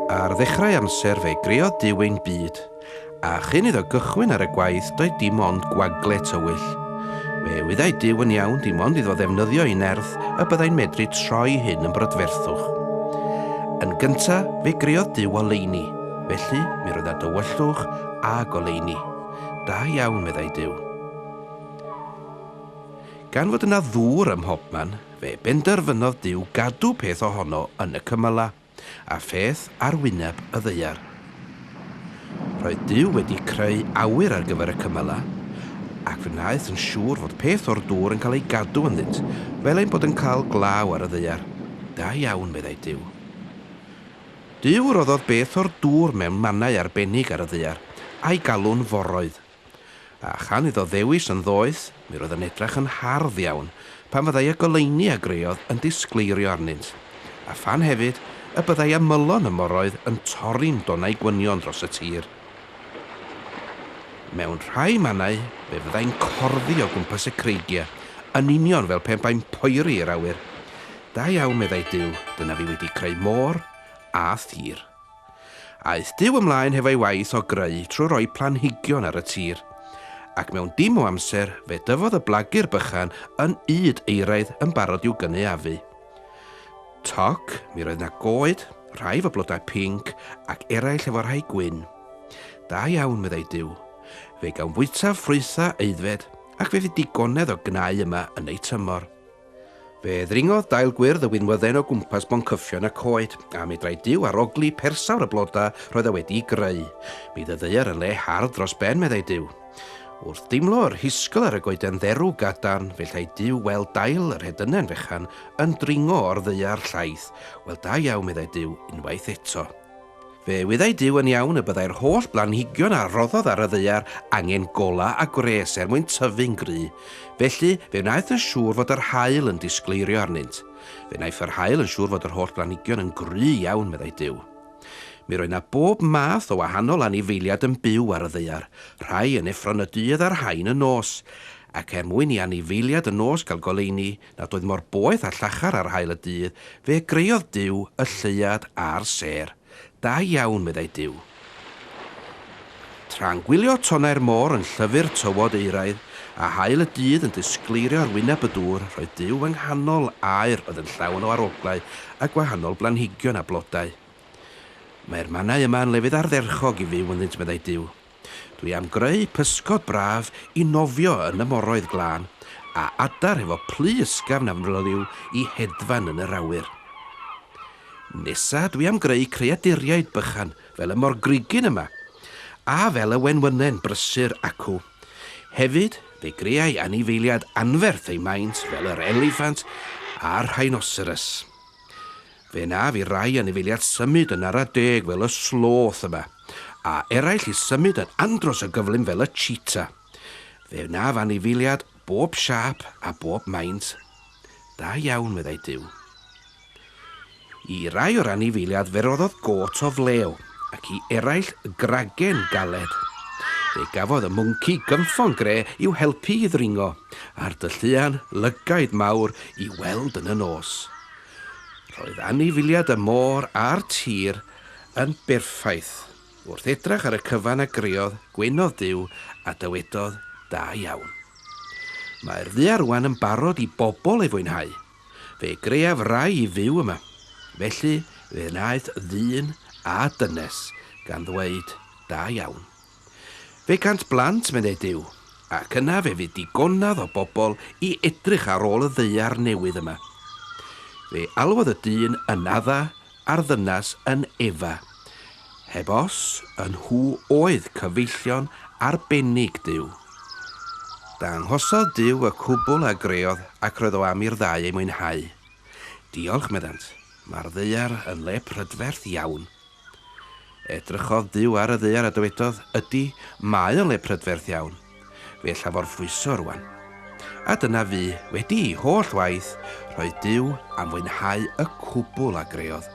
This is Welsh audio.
Ar ddechrau amser fe greodd Duw ein byd. A chyn iddo gychwyn ar y gwaith doedd dim ond gwagle tywyll. Fe wyddai Duw yn iawn dim ond iddo ddefnyddio ei nerth y byddai'n medru troi hyn yn brydferthwch. Yn gynta, fe greodd Duw oleuni, felly mi roedd â dywyllwch a goleuni. Da iawn, meddai Duw. Gan fod yna ddŵr ym mhobman, fe benderfynodd Duw gadw peth ohono yn y cymylau. a pheth ar wyneb y ddaear. Roedd Duw wedi creu awyr ar gyfer y cymylau, ac fe wnaeth yn siŵr fod peth o'r dŵr yn cael ei gadw ynddynt, fel ein bod yn cael glaw ar y ddaear. Da iawn, meddai Duw. Duw roddodd beth o'r dŵr mewn mannau arbennig ar y ddaear, a'i galw'n foroedd. A chan iddo ddewis yn ddoeth, mi roedd yn edrach yn hardd iawn pan fyddai y goleuni a greodd yn disgleirio arnynt, a phan hefyd y byddai ymylon y moroedd yn torri'n donau gwynion dros y tir. Mewn rhai mannau fe fyddai'n corddi o gwmpas y creigiau, yn union fel pe bai'n poeri i'r awyr. Da iawn, meddai Duw, dyna fi wedi creu môr a thir. Aeth Duw ymlaen hefo'i waith o greu trwy roi planhigion ar y tir. Ac mewn dim o amser, fe dyfodd y blagur bychan yn ŷd euraidd yn barod i'w gynaeafu. Toc, mi roedd 'na goed, rhai 'fo blodau pinc, ac eraill efo rhai gwyn. Da iawn, meddai Duw. Fe gawn fwytaf ffrwythau aeddfed, ac fe fydd digonedd o gnau yma yn eu tymor. Fe ddringodd dail gwyrdd y winwydden o gwmpas boncyffion y coed, a medrau Duw arogli persawr y blodau roedd e wedi'i greu. Bydd y ddaear yn le hardd dros ben, meddai Duw. Wrth deimlo yr hisgl ar y goeden dderw gadarn, fe llai Duw weld dail yr hedynen fechan yn dringo o'r ddaear llaith. Wel, da iawn, meddai Duw, unwaith eto. Fe wyddai Duw yn iawn y byddai'r holl blanhigion a roddodd ar y ddaear angen golau a gwres er mwyn tyfu'n gry. Felly, fe wnaeth yn siŵr fod yr haul yn disgleirio arnynt. Fe wnaiff yr haul yn siŵr fod yr holl blanhigion yn gry iawn, meddai Duw. Mi roedd na bob math o wahanol anifeiliad yn byw ar y ddaear, rhai yn effron y dydd a rhain y nos. Ac er mwyn i anifeiliad y nos gael goleuni, nad oedd mor boeth a llachar ar haul y dydd, fe greodd Duw y lleuad a'r sêr. Da iawn, meddai Duw. Tra'n gwylio tonnau'r môr yn llyfu'r tywod euraidd, a haul y dydd yn disgleirio ar wyneb y dŵr, roedd Duw yng nghanol aer oedd yn llawn o aroglau a gwahanol blanhigion a blodau. Mae'r mannau yma yn lefydd ardderchog i fyw ynddynt, meddai Duw. Dwi am greu pysgod braf i nofio yn y moroedd glân, a adar hefo plu ysgafn a fnyliw i hedfan yn yr awyr. Nesa dwi am greu creaduriaid bychan fel y morgrugyn yma, a fel y wenwynen brysur acw. Hefyd, fe greai anifeiliad anferth ei maint fel yr eliffant a'r rhinoceros. Fe naf i rai anifeiliad symud yn ara deg fel y sloth yma, a eraill i symud yn andros o gyflym fel y cheetah. Fe naf anifeiliad bob siâp a bob maint. Da iawn, meddai Duw. I rai o'r anifeiliad fe roddodd gôt o flew. ac i eraill gragen galed. Fe gafodd y mwnci gynffon gre i'w helpu i ddringo, a'r dylluan lygaid mawr i weld yn y nos. Roedd anifiliad y môr a'r tir yn berffaith. Wrth edrach ar y cyfan a greodd, gwenodd Duw a dywedodd, Da iawn. Mae'r ddu arwan yn barod i bobl ei fwynhau. Fe greaf rai i fyw yma. Felly fe wnaeth ddyn a dynes, gan ddweud, Da iawn. Fe gant blant, meddai Duw, ac yna fe fu digonedd o bobl i edrych ar ôl y ddaear newydd yma. Fe alwodd y dyn yn adda a'r ddynas yn Eva. Heb os, y nhw oedd cyfeillion arbennig Duw. Danghosodd Duw y cwbl a greodd ac roedd o am i'r ddau ei mwynhau. Diolch, meddant, mae'r ddaear yn le prydferth iawn. Edrychodd Duw ar y ddaear a dywedodd, Ydy, mae o'n le prydferth iawn. Fe ella forffwyso rwan. A dyna fu, wedi i holl waith, roedd Duw am fwynhau y cwbl a greodd.